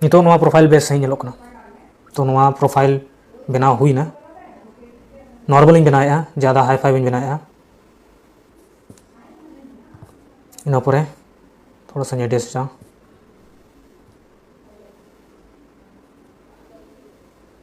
ᱱᱤᱛᱚᱜ ᱱᱚᱣᱟ ᱯᱨᱚᱯᱷᱟᱭᱤᱞ ᱵᱮᱥ ᱥᱟᱺᱦᱤᱡ ᱧᱮᱞᱚᱜ ᱠᱟᱱᱟ ᱛᱚ ᱱᱚᱣᱟ ᱯᱨᱚᱯᱷᱟᱭᱤᱞ ᱵᱮᱱᱟᱣ ᱦᱩᱭᱱᱟ ᱱᱚᱨᱢᱟᱞᱤᱧ ᱵᱮᱱᱟᱣᱮᱫᱼᱟ ᱡᱟᱫᱟ ᱦᱟᱭ ᱯᱷᱟᱭ ᱵᱟᱹᱧ ᱵᱮᱱᱟᱣᱮᱫᱼᱟ ᱤᱱᱟᱹ ᱯᱚᱨᱮ ᱛᱷᱚᱲᱟ ᱥᱟᱧ ᱮᱰᱡᱟᱥᱴᱟ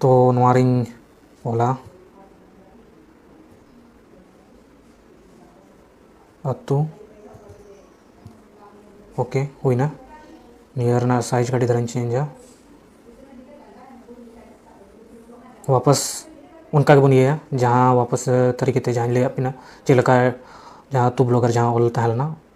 ᱛᱚ ᱱᱚᱣᱟ ᱨᱤᱧ ᱚᱞᱟ ᱟᱛᱳ ᱳᱠᱮ ᱦᱩᱭᱱᱟ ᱱᱤᱭᱟᱹ ᱨᱮᱱᱟᱜ ᱥᱟᱭᱤᱡᱽ ᱠᱟᱹᱴᱤᱡ ᱫᱷᱟᱨᱟᱧ ᱪᱮᱧᱡᱟ ᱣᱟᱯᱟᱥ ᱚᱱᱠᱟ ᱜᱮᱵᱚᱱ ᱤᱭᱟᱹᱭᱟ ᱡᱟᱦᱟᱸ ᱣᱟᱯᱟᱥ ᱛᱟᱹᱨᱤᱠᱷ ᱠᱟᱛᱮ ᱡᱟᱦᱟᱸᱧ ᱞᱟᱹᱭᱟᱫ ᱵᱤᱱᱟ ᱪᱮᱫ ᱞᱮᱠᱟ ᱡᱟᱦᱟᱸ ᱟᱛᱳ ᱵᱞᱚᱠ ᱨᱮ ᱡᱟᱦᱟᱸ ᱚᱞ ᱛᱟᱦᱮᱸ ᱞᱮᱱᱟ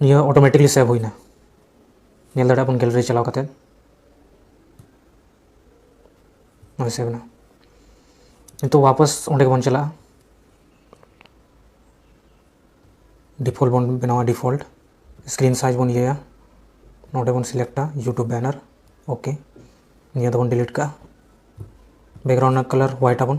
ᱱᱤᱭᱟᱹ ᱚᱴᱳᱢᱮᱴᱤᱠᱞᱤ ᱥᱮᱵᱷ ᱦᱩᱭᱱᱟ ᱧᱮᱞ ᱫᱟᱲᱮᱭᱟᱜ ᱵᱚᱱ ᱜᱮᱞᱟᱨᱤ ᱪᱟᱞᱟᱣ ᱠᱟᱛᱮ ᱱᱚᱜᱼᱚᱭ ᱥᱮᱵᱷ ᱮᱱᱟ ᱱᱤᱛᱚᱜ ᱣᱟᱯᱟᱥ ᱚᱸᱰᱮ ᱜᱮᱵᱚᱱ ᱪᱟᱞᱟᱜᱼᱟ ᱰᱤᱯᱷᱚᱞᱴ ᱵᱚᱱ ᱵᱮᱱᱟᱣᱟ ᱰᱤᱯᱷᱚᱞᱴ ᱥᱠᱨᱤᱱ ᱥᱟᱭᱤᱡᱽ ᱵᱚᱱ ᱤᱭᱟᱹᱭᱟ ᱱᱚᱰᱮ ᱵᱚᱱ ᱥᱤᱞᱮᱠᱴᱟ ᱤᱭᱩᱴᱩᱵᱽ ᱵᱮᱱᱟᱨ ᱳᱠᱮ ᱱᱤᱭᱟᱹ ᱫᱚᱵᱚᱱ ᱰᱤᱞᱤᱴ ᱠᱟᱜᱼᱟ ᱵᱮᱠᱜᱨᱟᱣᱩᱱᱰ ᱨᱮᱱᱟᱜ ᱠᱟᱞᱟᱨ ᱦᱳᱣᱟᱭᱤᱴ ᱟᱵᱚᱱ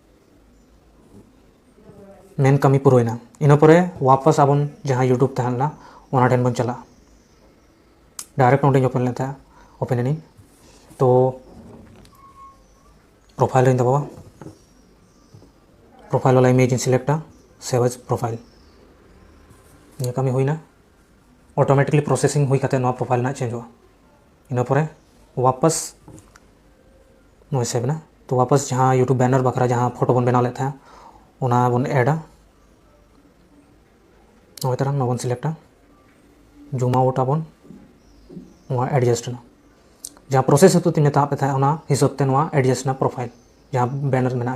ᱢᱮᱱ ᱠᱟᱹᱢᱤ ᱯᱩᱨᱟᱹᱣᱮᱱᱟ ᱤᱱᱟᱹ ᱯᱚᱨᱮ ᱣᱟᱯᱟᱥ ᱟᱵᱚᱱ ᱡᱟᱦᱟᱸ ᱭᱩᱴᱩᱵᱽ ᱛᱟᱦᱮᱸ ᱞᱮᱱᱟ ᱚᱱᱟ ᱴᱷᱮᱱ ᱵᱚᱱ ᱪᱟᱞᱟᱜᱼᱟ ᱰᱟᱭᱨᱮᱠᱴ ᱱᱚᱰᱮᱧ ᱳᱯᱮᱱ ᱞᱮᱫ ᱛᱟᱦᱮᱸᱫ ᱳᱯᱮᱱ ᱮᱱᱟᱹᱧ ᱛᱚ ᱯᱨᱚᱯᱷᱟᱭᱤᱞ ᱨᱮᱧ ᱫᱟᱵᱟᱣᱟ ᱯᱨᱚᱯᱷᱟᱭᱤᱞ ᱣᱟᱞᱟ ᱤᱢᱮᱡᱽ ᱤᱧ ᱥᱤᱞᱮᱠᱴᱟ ᱥᱮᱵᱷ ᱮᱡᱽ ᱯᱨᱚᱯᱷᱟᱭᱤᱞ ᱱᱤᱭᱟᱹ ᱠᱟᱹᱢᱤ ᱦᱩᱭᱱᱟ ᱚᱴᱳᱢᱮᱴᱤᱠᱞᱤ ᱯᱨᱚᱥᱮᱥᱤᱝ ᱦᱩᱭ ᱠᱟᱛᱮ ᱱᱚᱣᱟ ᱯᱨᱚᱯᱷᱟᱭᱤᱞ ᱨᱮᱱᱟᱜ ᱪᱮᱧᱡᱚᱜᱼᱟ ᱤᱱᱟᱹ ᱯᱚᱨᱮ ᱚᱣᱟᱯᱟᱥ ᱱᱚᱜᱼᱚᱭ ᱥᱮᱵᱷ ᱮᱱᱟ ᱛᱚ ᱚᱣᱟᱯᱟᱥ ᱡᱟᱦᱟᱸ ᱤᱭᱩᱴᱩᱵᱽ ᱵᱮᱱᱟᱨ ᱵᱟᱠᱷᱨᱟ ᱡᱟᱦᱟᱸ ᱯᱷᱳᱴᱳ ᱵᱚᱱ ᱵᱮᱱᱟᱣ ᱞᱮᱫ ᱛᱟᱦᱮᱸᱫ ᱚᱱᱟ ᱵᱚᱱ ᱮᱰᱟ ᱱᱚᱜᱼᱚᱭ ᱛᱟᱨᱟ ᱱᱚᱣᱟ ᱵᱚᱱ ᱥᱤᱞᱮᱠᱴᱟ ᱡᱩᱢ ᱟᱣᱩᱴ ᱟᱵᱚᱱ ᱱᱚᱣᱟ ᱮᱰᱡᱟᱥᱴ ᱮᱱᱟ ᱡᱟᱦᱟᱸ ᱯᱨᱚᱥᱮᱥ ᱦᱤᱥᱟᱹᱵ ᱛᱮᱧ ᱢᱮᱛᱟᱫ ᱯᱮ ᱛᱟᱦᱮᱸᱫ ᱚᱱᱟ ᱦᱤᱥᱟᱹᱵ ᱛᱮ ᱱᱚᱣᱟ ᱮᱰᱡᱟᱥᱴ ᱮᱱᱟ ᱯᱨᱚᱯᱷᱟᱭᱤᱞ ᱡᱟᱦᱟᱸ ᱵᱮᱱᱟᱨ ᱢᱮᱱᱟᱜᱼᱟ